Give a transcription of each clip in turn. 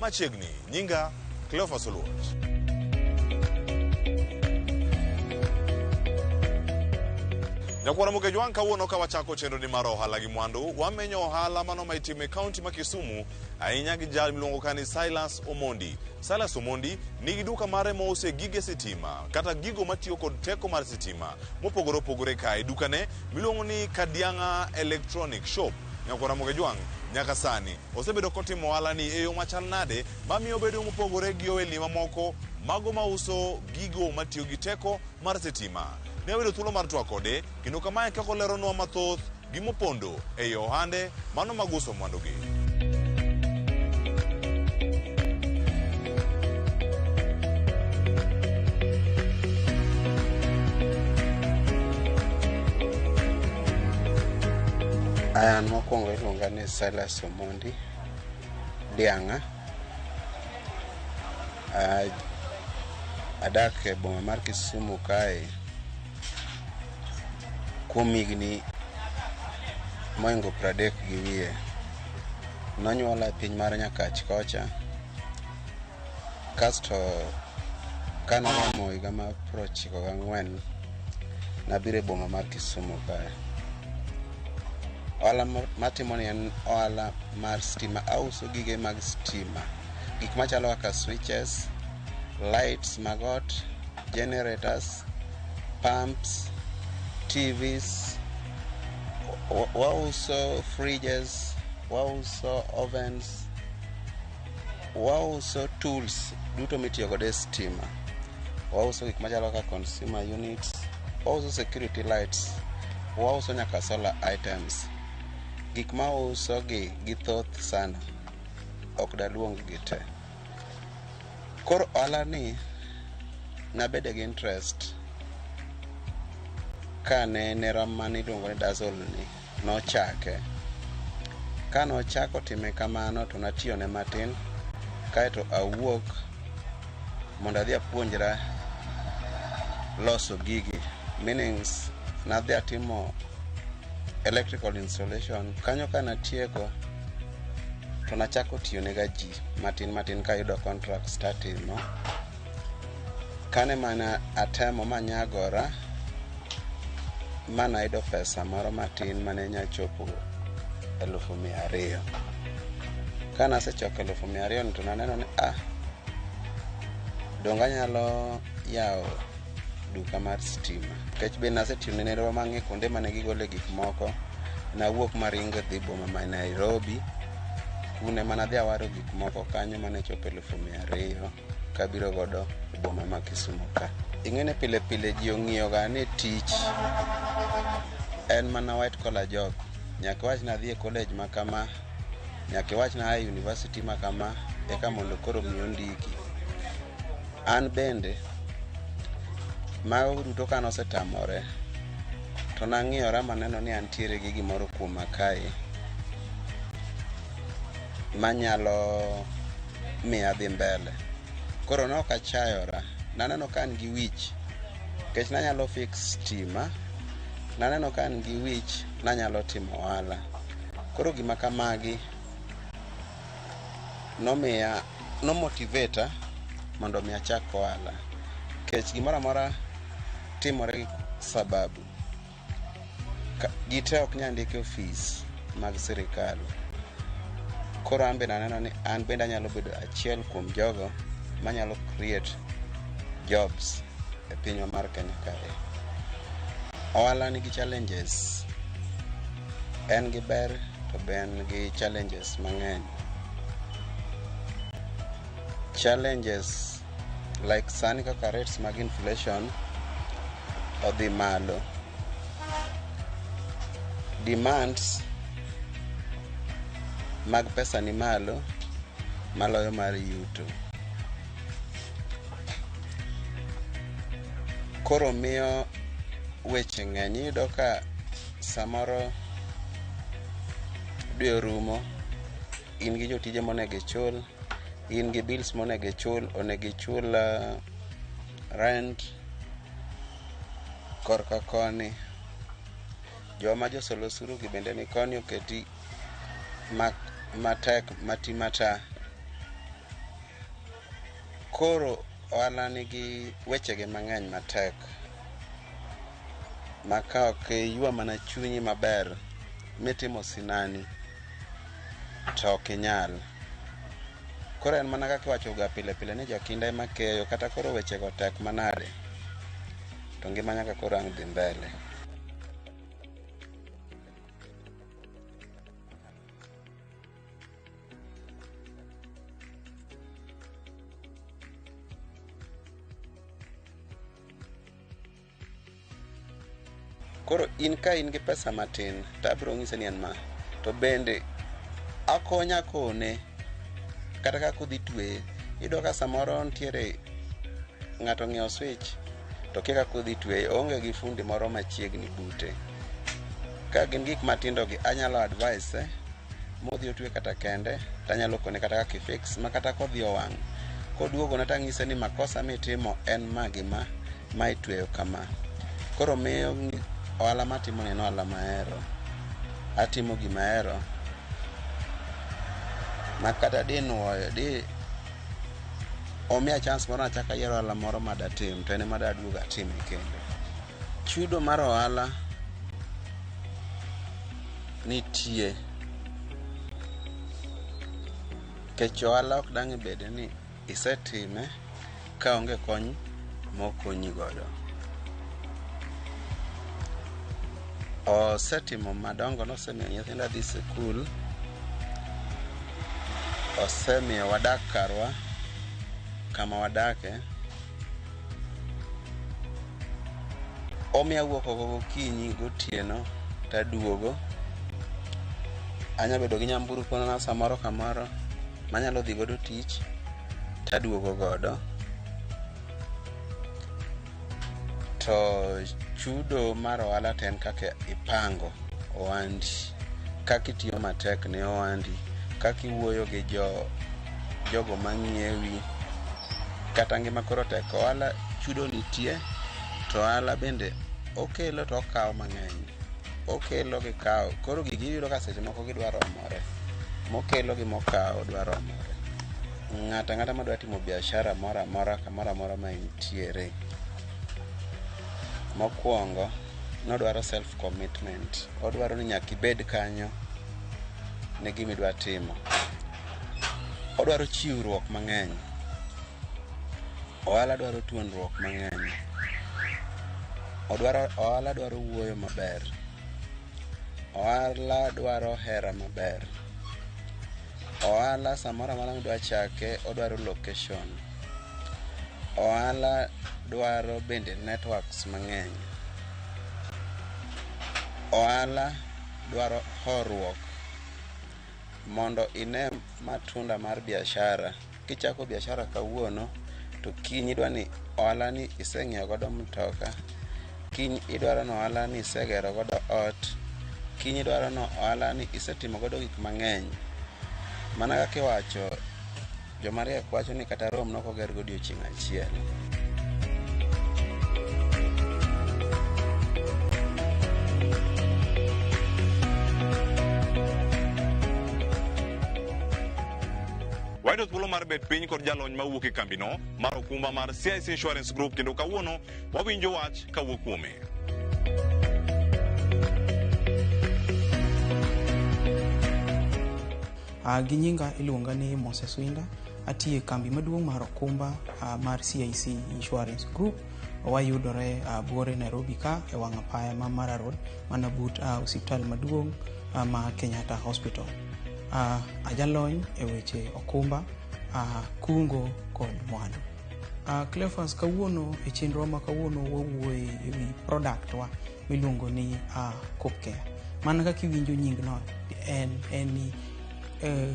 Machiegni, nyinga Cleophas Oluoch. Nyakwara Mugej wang' kawuono ka wachako chenroni mar ohala gi mwandu, wamenyo ohala mano ma itimo e kaunti ma Kisumu ahinya gi jal miluongo ka ni Silas Omondi. Silas Omondi nigi duka mare mouse gige sitima kata gigo matiyo kod teko mar sitima mopogore opogore kae. Dukane miluongo ni Kadiang'a Electronic Shop Nyako Ramogi Jwang' nyaka sani osebedo kotimo ohalani e yo machal nade mamiyo obedo mopogore gi ohelni mamoko mago mauso gigo matiyo gi teko mar sitima? Ne wayudo thuolo mar twak kode kendo kama e kaka oleronwa mathoth gima opondo ei ohande mano mag uso mwandugi. An mokwongo iluonga ni Silas Omondi Dianga. Ah, Adak e boma mar Kisumu kae kuom higni moingo pradek gi wiye. Nonyuola e piny mar Nyakach kocha. Kasto kane aromo higa mar piero ochiko gang'wen, nabiro e boma mar Kisumu kae. Ohala ma- matimoni en ohala mar stima. Auso gige mag stima. Gik machalo kaka switches, lights mag ot, generators, pumps, TVs, wa- wauso fridges, wauso ovens, Wauso tools duto mitiyo godo e stima. Wauso gik machalo kaka consumer units, wauso security lights, wauso nyaka solar items. Gik ma wauso gi githoth sana, ok daluong gi te. Koro ohala ni nabede gi interest kane nera mane iluongo ni Dazzle ni. nochake. Ka nochako time kamano to natiyone matin kaeto awuok mondo adhi apuonjra loso gigi meanings nadhi atimo electrical installation kanyo ka natieko to nachako tiyonega ji matin matin kayudo contracts tatimo Kane mana atemo manyagora mana yudo pesa moro matin mane nya chopo elufu mia ariyo. Kane asechoko elufu mia ariyo to naneno ni ah, donge anyalo yawo duka mar stima nikech be nasetimo ne nerwa mang'e kuonde mane gigole gik moko nawuok maringo dhi boma ma Nairobi kune mana dhi awaro gik moko kanyo mane chopo elufu mia ariyo. kabiro godo e boma ma Kisumu ka. Ing'eni pile pile ji ong'iyoga ni tich en mana white collar job. Nyaka iwach ni adhi e college ma kama, nyaka iwach ni aa e university ma kama eka mondo koro mi ondiki. An bende mago duto ka nosetamore to nang'iyora maneno ni antiere gi gimoro kuoma kae. manyalo miyo adhi mbele. Koro ne ok achayora, naneno ka an gi wich nikech nanyalo fix stima, naneno ka an gi wich nanyalo timo ohala. Koro gima kamagi nomiya, no motivate a mondo mi achak ohala nikech gimoro amora timore gi sababu. Ka- ji te ok nyal ndiki ofis mag sirikal koro an bende aneno ni an bende anyalo bedo achiel kuom jogo manyalo create jobs e pinywa mar kenya kae ohala nigi challenges en gi ber to be en gi challenges mang'eny challenges like sani kaka rates mag inflation odhi malo demands mag pesa ni malo maloyo mar yuto koro miyo weche ng'eny iyudo ka samoro dwe orumo in gi jotije monego ichul in gi bills monego ichul onego ichul uh, rent korka koni joma josolo osuru gi bende ni koni oketi ma- matek mati mata koro ohala nigi wechege mang'eny matek ma ka ok iywa mana chunyi maber mitimo sinani to ok inyal koro en mana kaka iwachoga pile pile ni jokinda ema keyo kata koro wechego tek manade to ngima nyaka koro ang' dhi mbele Koro in ka in gi pesa matin to abiro nyise ni en ma to bende akonya kone kata kaka udhi tweye iyudo ka samoro nitiere ng'ato ong'iewo switch to kia kaka udhi tweye oonge gi fundi moro machiegni bute ka gin gik matindo gi anyalo advise modhi otwe kata kende tanyalo kone kata kaka ifix ma kata kodhi owang' koduogona tang'ise ni makosa mitimo en ma gi ma ma itweyo kama koro miyo ngi- ohala matimo ni en ohala mahero atimo gima ahero ma kata dinuoyo di omiya chance moro nachaka yiero ohala moro madatim to en ema daduogo atime kendo Chudo mar ohala nitie kech ohala ok dang' ibede ni isetime ka onge kony mokonyi godo. Osetimo madongo nosemiyo nyithinda dhi sikul, osemiyo wadak karwa kama wadake. omiyo awuok oko gokinyi gotieno to aduogo. Anyalo bedo gi nyamburko na samoro kamoro ma anyalo dhi godo tich to aduogo godo. To chudo mar ohala to en kaka ipango ohandi, kaka itiyo matek ne ohandi, kaka iwuoyo gi jogo ma ng'iewi. Kata ngima koro tek, ohala chudo nitie to ohala bende okelo to okawo mang'eny. Okelo gi kawo, koro gigi iyudo ka seche moko gidwa romore. Mokelo gi mokawo dwa romore. Ng'ato ang'ata ma dwa timo biashara moro amora kamoro amora ma entiere, mokuongo ne odwaro self commitment. Odwaro ni nyaka ibed kanyo ne gima idwa timo. Odwaro chiwruok mang'eny. Ohala dwaro tuonruok mang'eny. Odwaro ohala dwaro wuoyo maber. Ohala dwaro hera maber. Ohala samoro amora midwa chake odwaro location. Ohala dwaro bende networks mang'eny. Ohala dwaro horuok. mondo ine matunda mar biashara kichako biashara kawuono to kiny idwa ni ohala ni iseng'iewo godo mtoka kiny idwaro ni ohala ni isegero godo ot kiny idwaro ni ohala ni isetimo godo gik mang'eny mana kaka iwacho Jomariek wacho ni kata Rome nok oger godiechieng' achiel. Wayudo thuolo mar bet piny kod jalony ma wuok e kambino mar okumba mar CIC Insurance Group kendo kawuono wawinjo wach kawuok kuome. Uh, gi nyinga iluonga ni Moses Winda. Atiyo e kambi maduong' mar okumba uh, mar CIC Insurance Group. Wayudore uh, Buore Nairobi ka e wang' apaya ma Mara Road mana but uh, osiptal maduong' uh, ma Kenyatta Hospital. Uh, ajalony e weche okumba, uh, kungo kod mwandu. Uh, Cleophas, kawuono e chenrowa ma kawuono wawuoye e wi product wa miluongo ni uh, Copcare. Mana kaka iwinjo nyingno en en ni eh,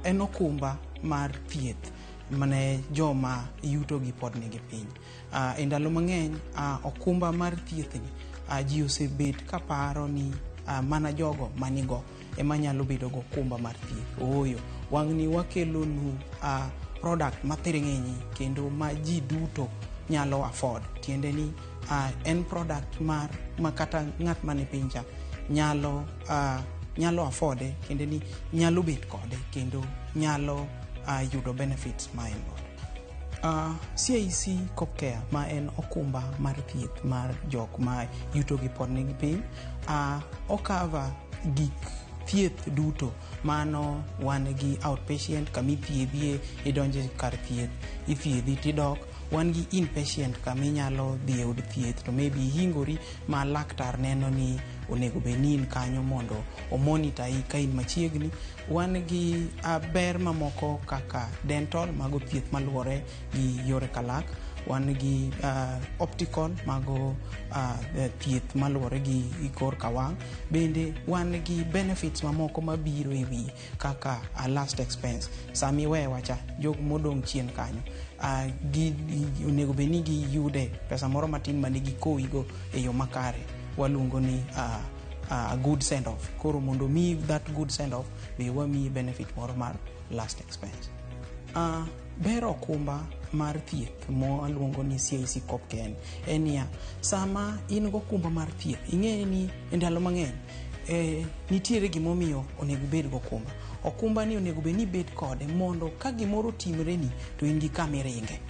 en okumba mar thieth mane joma yutogi pod nigi piny. Uh, e ndalo mang'eny uh, okumba mar thiethni uh, ji osebet kaparo ni uh, mana jogo manigo ema nyalo bedo go okumba mar thieth. Ooyo, wang'ni wakelonu uh, product mathiring'inyi kendo ma ji duto nyalo afford tiende ni uh, en product mar ma kata ng'at man e pinja nyalo uh, nyalo afforde kendo ni nyalo bet kode kendo nyalo uh, yudo benefits ma en godo Uh, CIC Copcare ma en okumba mar thieth mar jok ma yutogi pod nigi piny uh, okava gik thieth duto mano wan gi outpatient kama ithiedhie idonje kar thieth ithiedhi tidok wan gi inpatient kama inyalo dhi e od thieth to maybe ihingori ma laktar neno ni onego bed ni in kanyo mondo omonita i ka in machiegni wan gi ah, ber mamoko kaka dental mago thieth maluwore gi yore kalak wan gi ah, optical mago ah, eh, thieth maluwore gi gi kor ka wang' bende wan gi benefits mamoko mabiro e wiye kaka a last expense sama iwewa cha jok modong' chien kanyo ah, gi- gi- onego bed ni giyude pesa moro matin mane gikowigo e yo makare waluongo ni ah, ah, a good send off koro mondo omiyi that good send off be wamiyi benefit moro mar last expense Ah, ber okumba mar thieth mwaluongo ni CIC Copken en niya sama in gokumba mar thieth ing'eyo ni e ndalo mang'eny eh, nitiere gimomiyo onego ibed gokumba okumba ni onego bed ni ibed kode mondo ka gimoro timreni to in gi kama iringe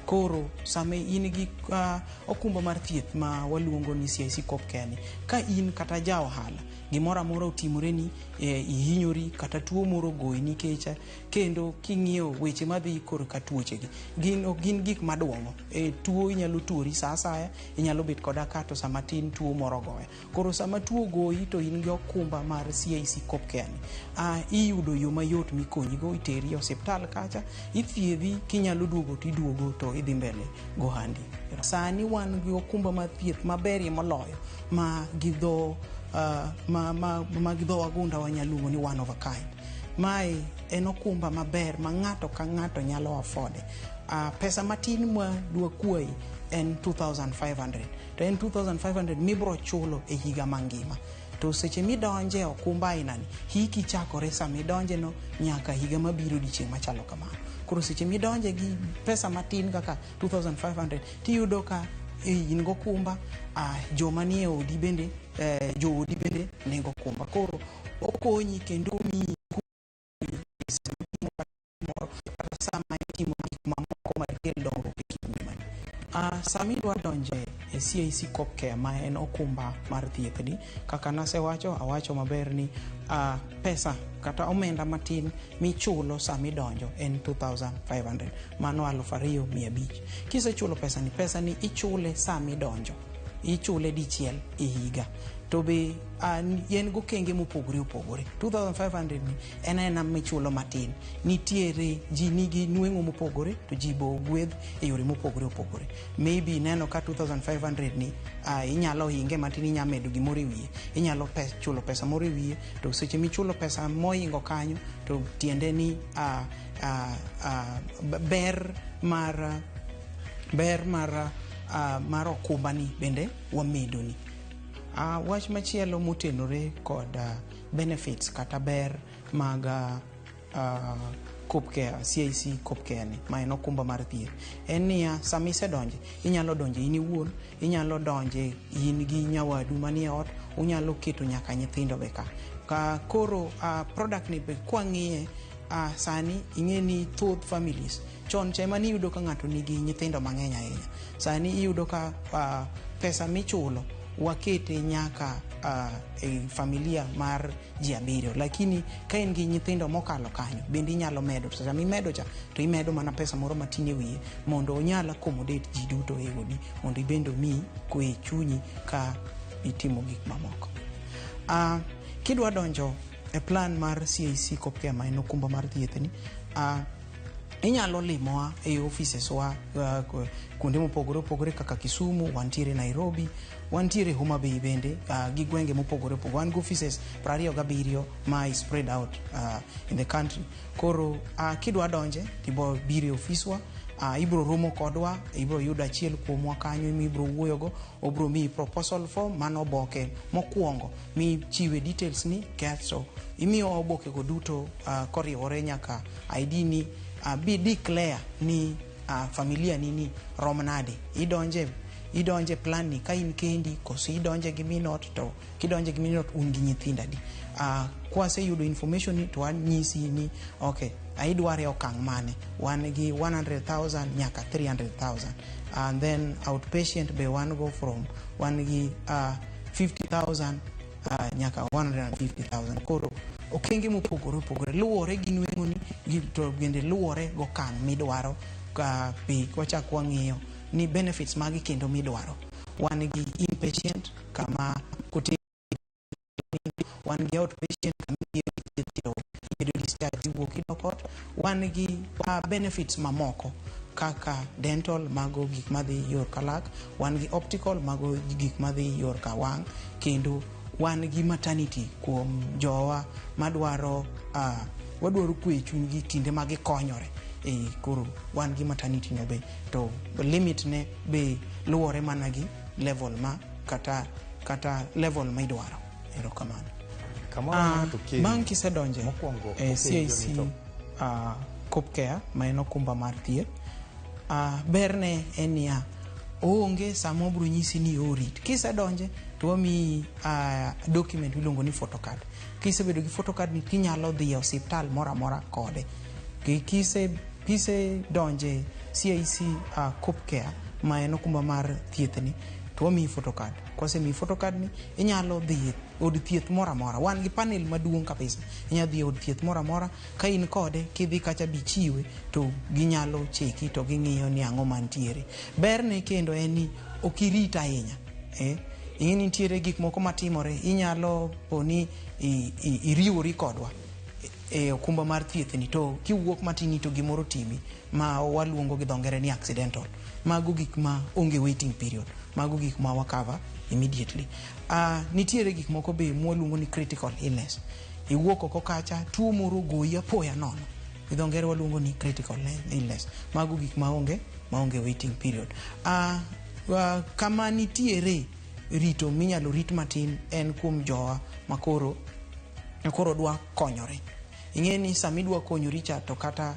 koro sama in gi uh, okumba mar thieth ma waluongo ni CIC Kopkeni ka in kata ja ohala gimoro amora otimoreni eh, ihinyori kata tuo moro goyi nikech kendo king'iyo weche madhi korka tuochegi gin ok gin gik madwong'o eh, tuo inyalo tuori sa asaya inyalo bet koda kato sama tin tuo moro goya Koro sama tuo ogoyi to in gi okumba mar CIC Cop Care ni, ah, iyudo yo mayot mikonyigo, iteri e osiptal kacha, ithiedhi, kinyalo duogo to iduogo to idhi mbele gohandi. Sani wan gi okumba mar thieth maberie moloyo ma gi dho ah, ma, ma, ma gi dho wagunda wanyalo luongo ni one of a kind. Mae en okumba maber ma ng'ato ka ng'ato nyalo afford. Ah, pesa matin ma dwakwayi en 2500 to en 2500 mibro chulo e higa mangima to seche midonje okumba ainani hiki chakore sama idonjeno nyaka higa mabiro odiechieng' machalo kamano koro seche midonje gi pesa matin kaka 2500 tiyudo ka e, in gokumba ah, joma nie odi bende eh, joodi bende nego kumba koro okonyi kendo omiyi Sami dwa donje e CIC Copcare ma en okumba mar thiethni kaka nasewacho awacho maber ni uh, pesa kata omenda matin michulo sami donjo en 2500 mano aluf ariyo mia abich kisechulo pesani pesani ichule sami donjo ichule dichiel e higa to be Uh, yen gokenge mopogore opogore 2500 ni en aena michulo matin nitiere ji nigi nweng'o mopogore to ji bo gwedh e yore mopogore opogore maybe ineno ka 2500 ni uh, inyalo hinge matin inya medo gimoro e wiye inyalo pes, chulo pesa moro e wiye to seche michulo pesa moingo kanyo to tiende ni uh, uh, uh, ber mar ber mar uh, mar okumbani bende wamedoni Uh, wach machielo motenore kod uh, benefits kata ber mag uh, uh, copcare cic copcare ni ma en okumba mar thieth en niya sama isedonje inyalo donje in iwuon inyalo donje in gi nyawadu manie ot unyalo keto nyaka nyithindo be ka ka koro uh, product ni be kwang'iye uh, sani ing'e ni thoth families Chon cha ema niyudo ka ng'ato nigi nyithindo mang'eny ahinya. Sani iyudo ka uh, pesa michulo wakete nyaka uh, e familia mar ji abiriyo lakini ka in gi nyithindo mokalo kanyo bende inyalo medo to sama imedo cha to imedo mana pesa moro matin e wiye mondo onyal accommodate ji duto e odi mondo ibende omi kwe chunyi ka itimo gik mamoko uh, kidwa donjo e plan mar CAC Copcare ma en okumba mar thiethni uh, Inyalo limowa e offices wa uh, kuonde mopogore opogore kaka Kisumu, wantiere Nairobi, wantiere Homa Bay bende uh, gi gwenge mopogore opogore. Wan gi offices prariyo gabiriyo ma is spread out uh, in the country. Koro uh, kidwa donje tibo bire ofiswa uh, ibro romo kodwa ibro yudo achiel kuomwa kanyo mi ibro wuoyogo obro miyi proposal form mano oboke mokwongo michiwe details ni kasto imiyo obokego duto uh, koriwore nyaka ID ni uh, be declare ni uh, familia nini rom nade idonje idonje plan ni ka in kendi koso idonje gi minot to kidonje gi minot un gi nyithindo adi uh, kwaseyudo information ni to wanyisi ni okay idware e okang' mane wan gi 100000 nyaka 300000 and then outpatient be wan go from wan gi uh, 50000 uh, nyaka 150,000 koro okenge mopogore opogore luwore gi nweng'oni to bende luwore gokang' midwaro ka be wachak wang'iyo ni benefits magi kendo midwaro wan gi inpatient kama kote wan gi outpatient kama ibedo discharge iwuok idok ot Wan gi uh, benefits mamoko kaka dental mago gik madhi yor kalak, wan gi optical mago gik madhi yor kawang' kendo wan gi maternity kuom jowa madwaro uh, wadwaro kwe chunygi kinde ma gikonyore e koro wan gi maternity no be to limit ne be luwore mana gi level ma kata kata level ma idwaro Erokamano. Kamoro Ah, ng'ato kendo. bang' kisedonje Mokwongo e openjo ni CIC to- ah, Coop Care ma en okumba mar thieth ah, berne en niya oonge sama obro nyisi ni orit kisedonje to wamiyi ah, document miluongo ni photocard kisebedo gi photocard ni tinyalo dhi e osiptal moro amora kode Ki- kise kisedonje CIC ah, Coop Care ma en okumba mar thiethni to wamiyi photocard Kwasemiyi photocard ni inyalo dhi e od thieth moro amora. Wan gi panel maduong' kabisa. Inyalo dhi e od thieth moro amora ka in kode kidhi kacha bichiwe to ginyalo cheki to ging'iyo ni ang'o mantiere. Berne kendo en ni ok irit ahinya. Eh? Ing'e ni nitiere gik moko matimore inyalo po ni i- i- iriwori kodwa e okumba mar thiethni to kiwuok matini to gimoro timi ma waluongo gi dho ngere ni accidental mago gik ma onge waiting period mago gik ma wakava immediately uh, nitiere gik moko be mwaluongo ni critical illness iwuok oko kacha tuo moro goyi apoya nono gi dho ngere waluongo ni critical illness mago gik ma onge ma onge waiting period uh, uh, kama nitiere rito minyalo rit matin en kuom jowa makoro koro dwa konyore ing'e ni sama idwa konyori cha to kata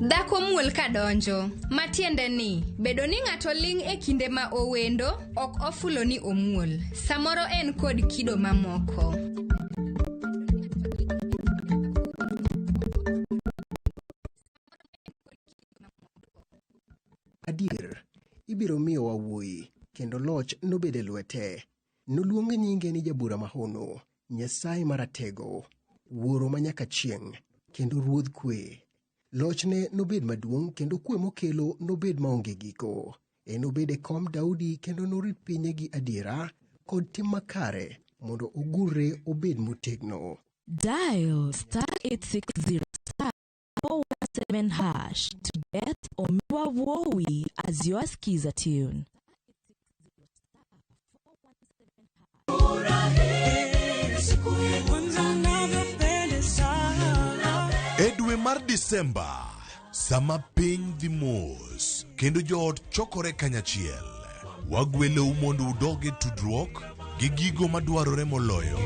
Dhako muol ka donjo, ma tiende ni bedo ni ng'ato ling' e kinde ma owendo ok ofulo ni omuol, samoro en kod kido mamoko. Adier, ibiro miyowa wuoyi, kendo loch nobed e lwete. Noluong nyinge ni jabura mahono, Nyasaye maratego, Wuoro ma nyaka chieng', kendo Ruodh kwe. Lochne nobed maduong' kendo kwe mokelo nobed maonge giko. Enobed e kom Daudi kendo norit pinye gi adiera kod tim makare mondo ogurre obed motegno. Dial star 860 417 hash to get Omiwa Wowi as your skiza tune. e dwe mar disemba sama piny dhi mos kendo joot chokore kanyachiel Wagwelou mondo udog e tudruok gi gigo madwarore moloyo.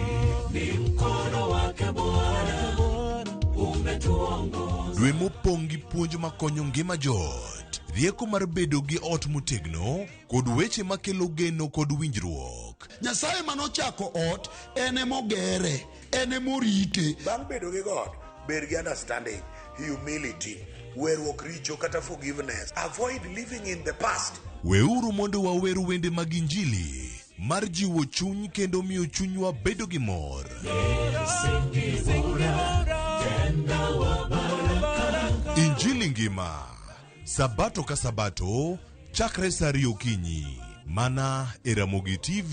Ni mkono wake Bwana umetuongoza. Dwe mopong' gi puonj makonyo ngima joot, rieko mar bedo gi ot motegno, kod weche makelo geno kod winjruok. Nyasaye mane ochako ot en emogere. en ema orite bang' bedo gi god bed gi understanding humility weruok richo kata forgiveness avoid living in the past Weuru mondo wawer wende mag Injili mar jiwo chuny kendo miyo chunywa bedo gi mor. Injili ngima, Sabato ka Sabato, chakre saa ariyo okinyi, mana e Ramogi TV.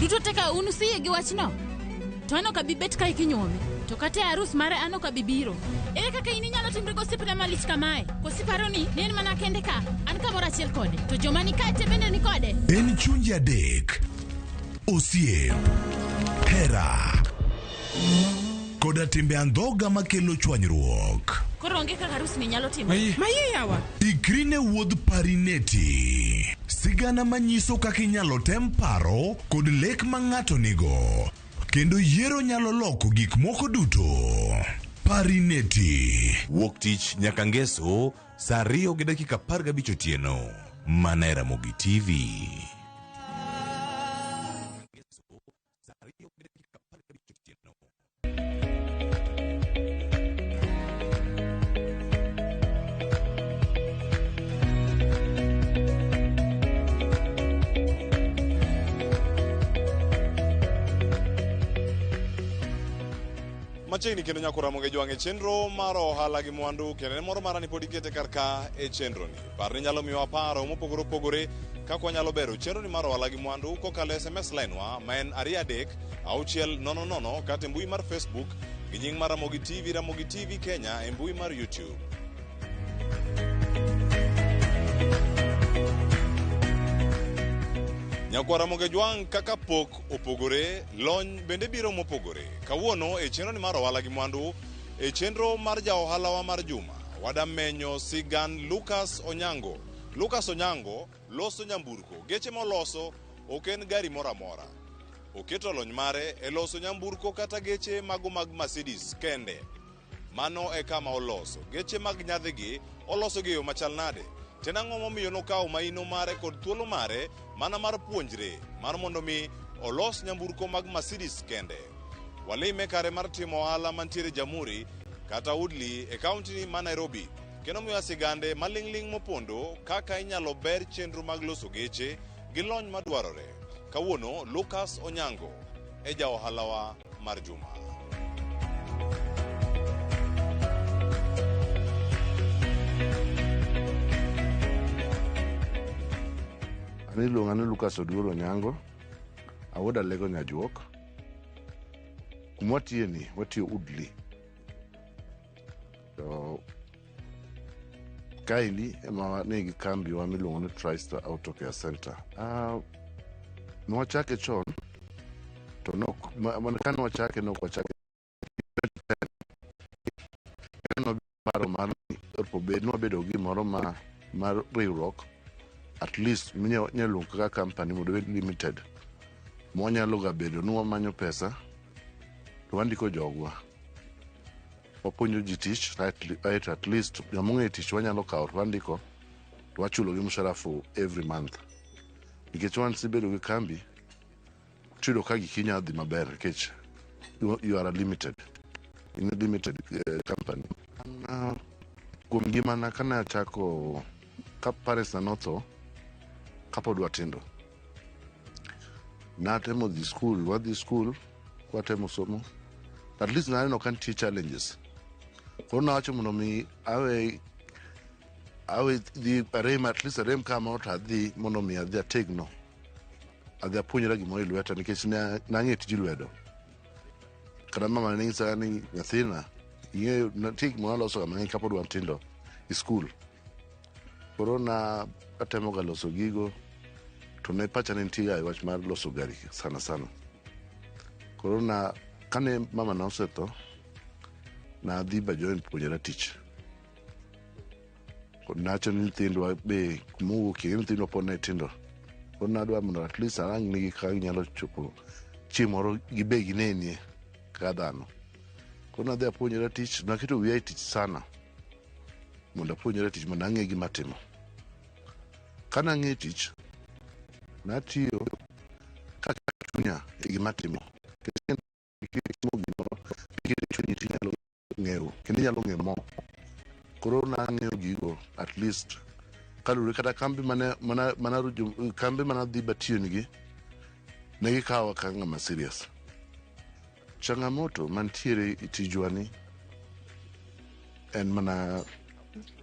duto te ka un usiye gi wachno to an ok abi bet ka ikinyuome to kata e arus mare an ok abi biro ere kaka in inyalo timre gosiepna malich kamae kosiparo ni ne en mana kende ka an kamoro achiel kode to joma ni kae te bende ni kode En chunje adek osiep, hera, koda timbe andhoga makelo chwanyruok. Koro onge kaka arus ni nyalo timo. Maye yawa. Ikri ne wuodh parineti. Sigana manyiso kaka inyalo tem paro kod lek ma ng'ato nigo. Kendo yiero nyalo loko gik moko duto. Parineti. Wuok tich nyaka ngeso. Saa ariyo gi dakika apar gabich otieno mana e Ramogi TV. Machiegni kendo nyako Ramogi jwang' e chenro mar ohala gi mwandu kendo en moro mara ni pod ikete kar ka e chenroni. Parni nyalo miyowa paro mopogore opogore kaka wanyalo bero chenroni mar ohala gi mwandu kokalo e SMS line wa ma en ariyo adek auchiel nono nono kata e mbui mar Facebook gi nying mar Ramogi TV, Ramogi TV Kenya e mbui mar YouTube. Nyakwa Ramogi jwang' kaka pok Ywak opogore, lony bende biro mopogore. Kawuono e chenroni mar ohala gi mwandu, e chenro mar ja ohalawa mar juma, wadamenyo sigan Lucas Onyango. Lucas Onyango loso nyamburko, geche moloso ok en gari moro amora. Oketo lony mare e loso nyamburko kata geche mago mag Mercedes kende. Mano e kama oloso. Geche mag nyadhigi oloso gi yo machal nade? Tena ang'o momiyo nokawo maino mare kod thuolo mare mana mar puonjre mar mondo mi olos nyamburko mag Mercedes kende? Walime kare mar timo ohala mantiere Jamhuri kata Woodley e kaunti ma Nairobi kendo miwa sigande maling'ling' mopondo kaka inyalo ber chenro mag loso geche gi lony madwarore. Kawuono Lucas Onyango e ja ohalawa mar juma. An iluonga ni Lucas Oduor Onyango, awuod Alego Nyajuok. Kuma watiye ni, watiyo Udli. To Kaeli ema wane gi kambiwa miluongo ni Tristar Auto Care Center. Uh, nwachake chon to nok mana ka nwachake nok wachake paro mar obed nwabedo gi gimoro ma mar riwruok at least minyalo kaka company mondo obed limited mwanyalo ga bedo ni wamanyo pesa to wandiko jogwa Wapuonjo ji tich aeto at least joma ong'eyo tich wanyalo kawo to wandiko to wachulogi mshahara for every month nikech once ibedo gi kambi tiyudo ka giki nyalo dhi maber nikech you, you are a limited in a limited uh, company uh, kuom ngimana kane achako ka parents na notho kapod watindo natemo dhi skul wadhi skul kwatemo somo at least naneno ka nitie challenges koro nawacho mondo mi awe awe dhi arem at least arem kama to adhi mondo mi adhi ategno adhi apuonjra gimoro e lweta nikech ne- nang'e tij lwedo kata mama ne nyisa ni nyathina ing'eyo nitie gimoro alosoga mang'eny kapod wantindo e skul Koro na atemo ga loso gigo to ne pacha ne nitie ga e wach mar loso gari sana sana. Koro na kane mama na osetho nadhi Bajoin puonjora tich. Koro nacho ni nyithindwa be kumowuokie gi nyithindwa pod ne tindo. Koro nadwa mondo at least arang nigi kaka ginyalo chopo chieng' moro gibe ginenie kaka dhano. Koro nadhi apuonjora tich naketo wiya e tich sana. mondo apuonjra tich mondo ang'e gima atimo. Kane ang'e tich, natiyo kaketo chunya e gima atimo. Nikech ka itimo gimoro, kiketo chunyi to inyalo ng'eyo kendo inyalo ng'e more. Koro nang'eyo gigo at least kaluwore kata kambi mane mana mana jo- kambi mana dhi batiyonigi ne gikawa kaka ng'ama serious. Changamoto mantiere e tijwa ni en mana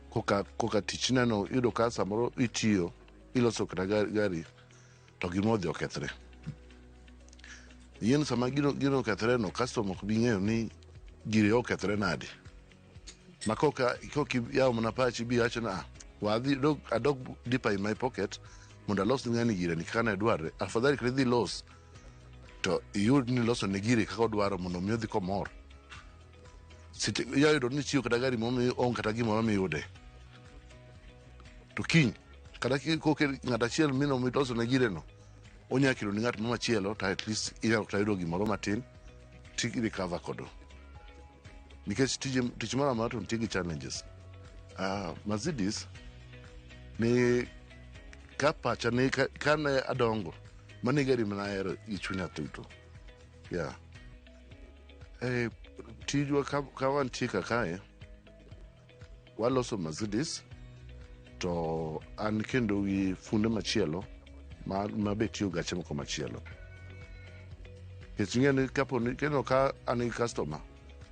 koka, koka tich neno yudo ka samoro itiyo iloso kata gari, gari to gima odhi okethre yien sama gino, gino okethre no customer ok bi ng'eyo ni gire okethre nade ma koka koki yawo mana pachi bi wacho na wadhi dog adog deeper in my pocket mondo alos ne ng'ani gire ni kaka ne dwarre afadhali kata idhi los to iyud ni loso ne gire kaka odwaro mondo mi odhi komor Site- inya yudo ni chiwo kata gari momi onge kata gimoro miyude to kiny kata ki- koke ng'at achiel mino miloso ne gire no onya kelo ni ng'at mamachielo to at least inyalo kata yudo gimoro matin ti recover kodo nikech tije tich moro amora to nitie gi challenges uh, Mercedes ne ka pacha ne ka- kane adongo mane gari mana ahero gi chunya duto yeah. eh, tijwa ka, ka wantie kakae Waloso Mercedes to an kendo gi funde machielo ma, ma be tiyo gache moko machielo. Nikech ing'eyo ni kapo ni kendo ka an gi customer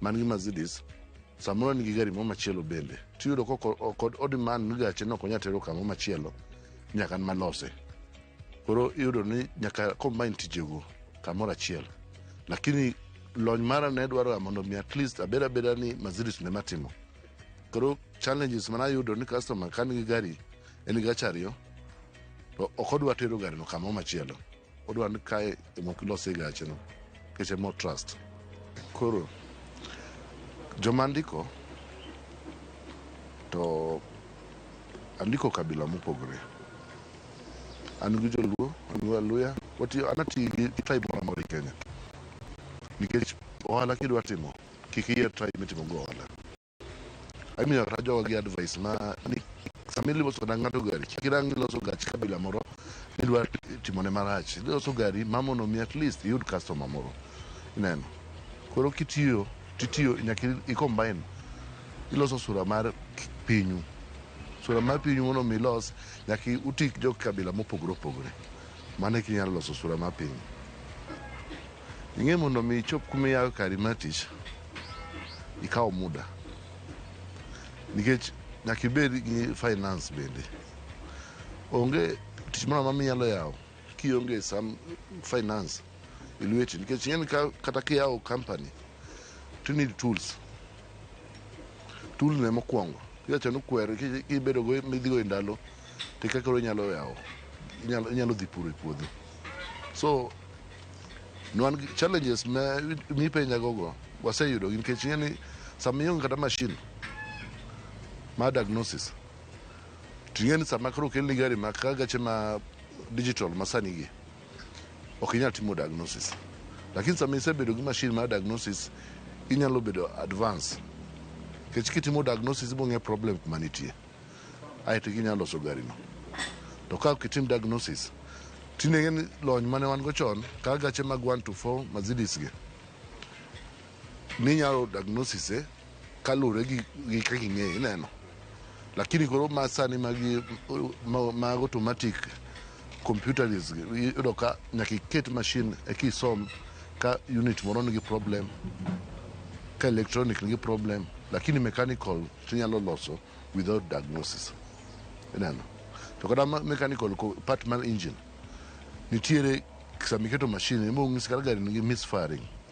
man gi Mercedes samoro an gi gari moro machielo bende tiyudo kod odemand ni gache no ok onya tero kamoro machielo nyaka an malose. koro iyudo ni nyaka combine tijego kamoro achiel lakini lony mara ne dwaro mondo mi at least abed abeda ni maziris ne matimo koro challenges mana yudo ni customer kan gi gari en gi gacha ariyo to ok odwa tero garino kamoro machielo odwa ni kae emok ilose gacheno keche mo trust koro joma ndiko to Andiko kabila mopogore. An gi Joluo, an gi Waluya, watiyo an atiyo gi gi tribe moro amora e Kenya. Nikech ohala kidwa timo, kik iyier tribe mitimo go ohala. Amiyo kata joga gi advice ma ni sama iloso kata ng'ato gari, kik irang iloso gach kabila moro midwa timone marach. Iloso gari ma mondo mi at least iyud customer moro. Ineno? Koro kitiyo titiyo nyaka i combine iloso sura mar pinyu sura mar pinyu mondo mi ilos nyaka utik jo kabila mopogore opogore mano eki inyalo loso sura mar pinyu ing'e mondo mi ichop kuma iyawe kari mar tich ikawo muda nikech nyaka ibed gi finance bende onge tich moro amora minyalo yawo kionge sam finance e lweti nikech ing'eni ka- kata kiyawo company to you need tools tool ne mokwongo iwacho ni kwer ki- kibedo go midhigo e ndalo to kaka koro inyalo yawo inyalo inyalo dhi puro e puodho so nwan gi- challenges ma mipenja gogo waseyudo gi nikech ing'eni sama ionge kata machine ma diagnosis to ing'eni sama koro okelni gari ma ka gache ma digital masani gi ok inyal timo diagnosis. Lakini sama isebedo gi mashin mar diagnosis, inyalo bedo advance. Kech kitimo diagnosis ibong'e problem kuma nitie. Aeto inyalo loso garino. To ka ok itim diagnosis, tinege ni lony mane wan go chon, ka gache mag 1 to 4 Mercedes gi, minyalo diagnosis e kaluwore gi gi kaka ing'eyo ineno lakini koro ma sani magi ma- mag automatic computers gi, iyudo ka nyaka iket machine eka isom ka unit moro nigi problem ka electronic nigi problem lakini mechanical tinyalo loso without diagnosis ineno to kata ma- mechanical ko- part mar engine nitiere sama iketo machine ema onyisi kata gari nigi misfiring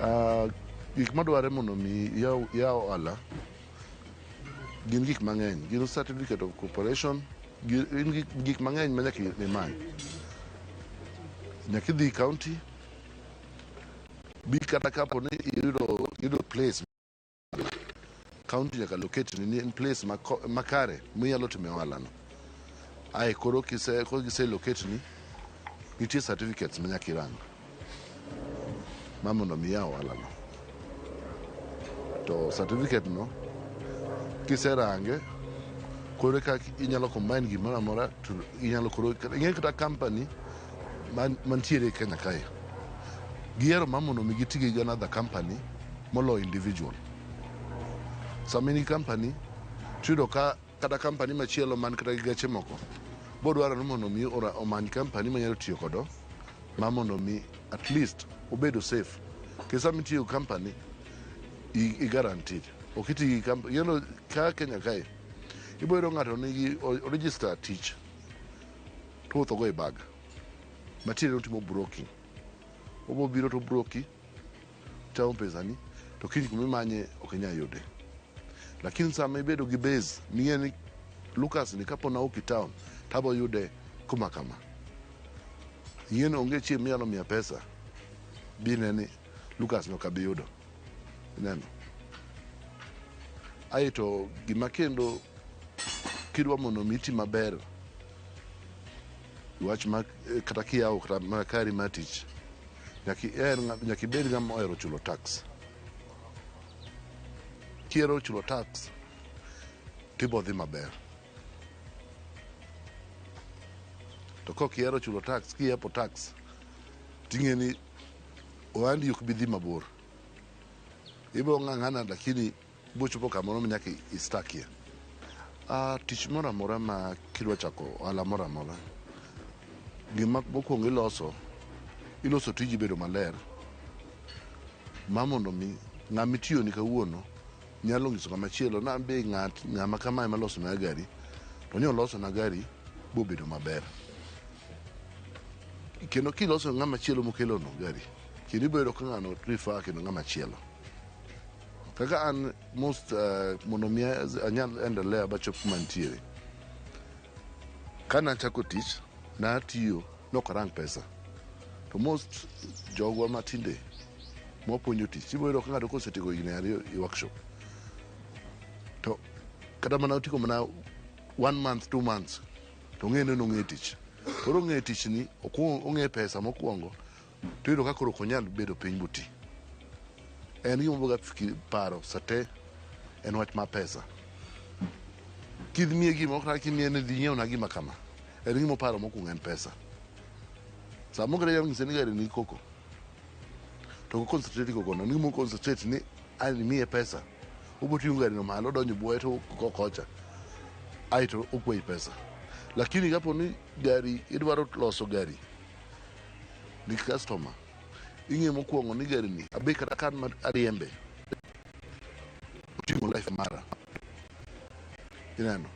Ah, gik madwarre mondo mi yaw yaw ohala gin gik mang'eny gin certificate of corporation gi- gin gik- gik mang'eny ma nyaka imany nyaka idhi county bi kata kapo ni iyudo iyudo place kaunti nyaka locate ni in place mako- makare minyalo time ohalano ae koro kise koro gise locate ni nitie certificates minyaka irang ma mondo mi ya ohalano to certificate no kiserange koro ka inyalo combine gimoro amora to inyalo koro ing'e kata company man- mantiere Kenya kae gihero mar mondo mi giti gi another company moloyo individual. Sama in gi company tiyudo ka kata company machielo man kata gi geche moko bodwaro ni mondo mi ora- omany company manyalo tiyo kodo ma mondo mi at least obedo safe kendo sama itiyo gi company i- i guaranteed ok iti gi company you know, ka Kenya kae iboyudo ng'ato nigi o- register tich Ruoth ogo e bag. Matiende ni otimo broking. Obo biro to broki, chamo pesani, to kiny kuma imanye ok inyal yude. Lakini sama ibedo gi base, ming'eyo ni Lucas ni kapo na ok i town, to abo yude kuma kama. Ing'eyo ni onge chieng' minyalo miya pesa, bine ni Lucas ni ok abi yudo. Ineno? Aeto gima kendo kidwa mondo mi iti maber Wach ma eh, kata kiyawo kata mana kari mar tich nyaka iher ng'a- nyaka ibed ng'ama ohero chulo tax. Kihero chulo tax tibo dhi maber. To kok ihero chulo tax kiyepo tax ting'e ni ohandi ok bi dhi mabor. Ibiro ng'ang'ana lakini Bochopo kamoro ma nyaka istakie. Uh, tich moro amora ma kidwa chako ohala moro amora, gima mokwongo iloso, iloso tiji bedo maler ma mondo mi ng'ama itiyoni kawuono nyalo nyiso ng'ama chielo na be ng'at ng'ama kamae malosona gari to ni olosona gari bobedo maber kendo kiloso ng'ama chielo mokelono gari kendo ibiro yudo ka ng'ano rifa kendo ng'ama chielo Kaka an most uh, mondo mi anyal endelea bachop kuma nitiere. Kana chako tich natiyo nok arang pesa. To most jogwa matinde mwapuonjo tich ibo yudo ka ng'ato kosetieko higni ariyo i workshop to kata mana otiko mana one month two months to ong'e ni nong'e tich koro ong'e tichni okuong- ong'e pesa mokwongo to iyudo ka koro ok onyal bedo piny boti. En gima oboga fiki- paro sate en wach mar pesa. Kimiye gima ok na kimiye ni dhi nyiewna gima kama. En gima oparo mokwongo en pesa. Sama ogere yam ng'ise ni gari ni koko. To ok concentrate koko no. En gima concentrate ni an imiye pesa. Oboting'o gari no malo odonjo buoye to kokocha. Aeto okwayi pesa. Lakini kapo ni gari idwaro loso gari gi customer ing'e mokwongo ni gari ni abe kata kan ma ariembe oting'o life mara ineno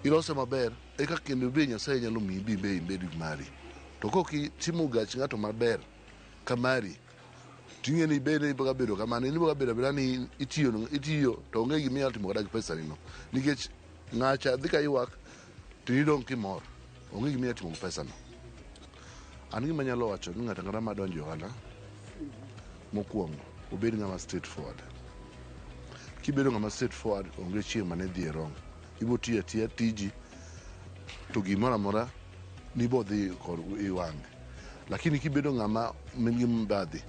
ilose maber eka kendo be nyasaye nyalo miyi bi be ibed gi mari to kok itimo gach ng'ato maber ka mari ting'e ni bende iboga bedo kamano in iboga bedo abeda ni itiyo itiyo to onge gima inyalo timo kata gi pesa nino nikech ng'acha dhi ka ywak to in idong' kimor onge gima inyatimo gi pesano an gima anyalo wacho ni ng'ato ang'ata madonjo e ohala mokwongo obed ng'ama straight forward kibedo ng'ama straight forward onge chieng' mane dhi e wrong ibo tiyo atiya tiji to gimoro amora nibo dhi kod i wang'e lakini kibedo ng'ama min gi mbadhi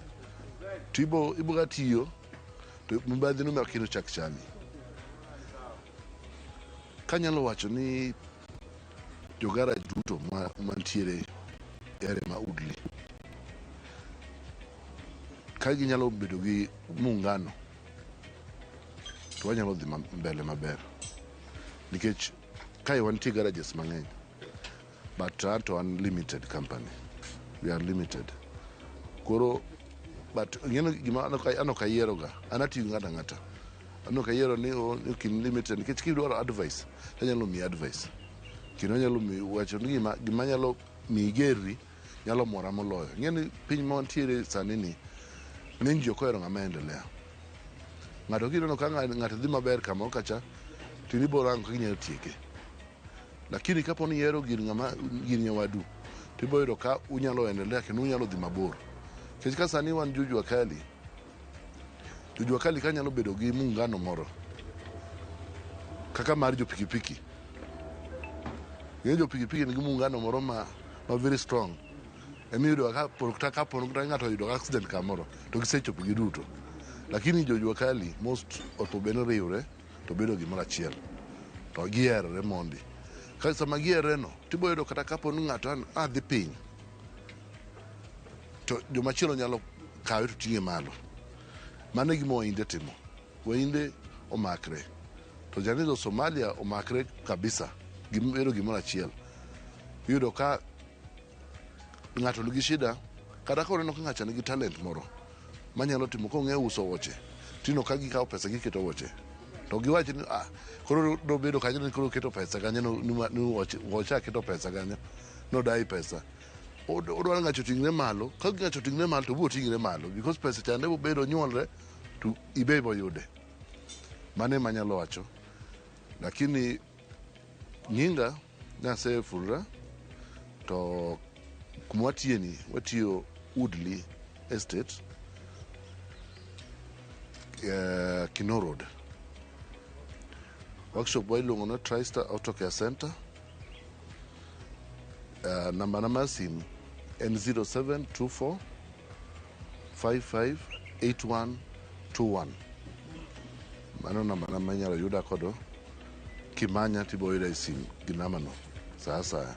to ibo ibo ga tiyo to mbadhi no mak kendo chak chami Kanyalo wacho ni jogaraj duto ma- mantiere e area ma Udli ka ginyalo bedo gi muungano to wanyalo dhi ma- mbele maber nikech kae wantie garages mang'eny but to an limited company we are limited koro but ng'eno gima ano ka- ano kayieroga an atiyo ng'ata ng'ata ano kayiero ni o- ni kin limited nikech kidwaro advice tanyalo miyi advice kendo nyalo mi wacho ni gima gima nyalo miyi gerri nyalo mora moloyo ng'eni piny ma wantiere sani ni ng'eny ji ok ohero ng'ama endelea ng'ato kineno ka ng'a- ng'ato dhi maber kamoro kacha to in ibiro rango kaka inyalo tieke Lakini kapo ni ihero gir ng'ama gir nyawadu to ibiro yudo ka unyalo endelea kendo unyalo dhi mabor. Nikech ka sani wan jo jua kali, jo jua kali ka nyalo bedo gi muungano moro kaka mar jo pikipiki. Ng'e jo pikipiki nigi muungano moro ma, ma very strong. Ema iyudo ka polo kata ka polo kata ng'ato oyudo accident kamoro to gisechopo giduto. Lakini jo jua kali most opo bende riwre to bedo gimoro achiel to giherore mondi ka sama giheroreno tibo yudo kata kapo ni ng'ato an adhi piny to jomachielo nyalo kawe to ting'e malo mano e gima wainde timo wainde omakre to janizo somalia omakre kabisa gibedo gimoro achiel iyudo ka Ng'ato nigi shida kata ka oneno ka ng'acha nigi talent moro manyalo timo ka ong'eyo uso wuoche tino ka gikawo pesa giketo wuoche to giwach ni ah koro dobedo kanyo ni koro keto pesa kanyo no- ni ma- ni wuoche wuoche aketo pesa kanyo nodai pesa Od- odwaro ng'acho ting're malo ka ng'acho ting're malo to biro ting're malo because pesa chande bobedo nyuolre to ibe boyude mano emanyalo wacho lakini nyinga Nasefulra to kuma watiyeni watiyo Woodley Estate eh, Kino Road. Workshop wa iluongo ni TriStar Auto Care Center. Eh, namba na mar simu en 0724 558121 mano namba na ma inyalo yuda kodo kimanya tibiro yuda e sim gi nambano sa asaya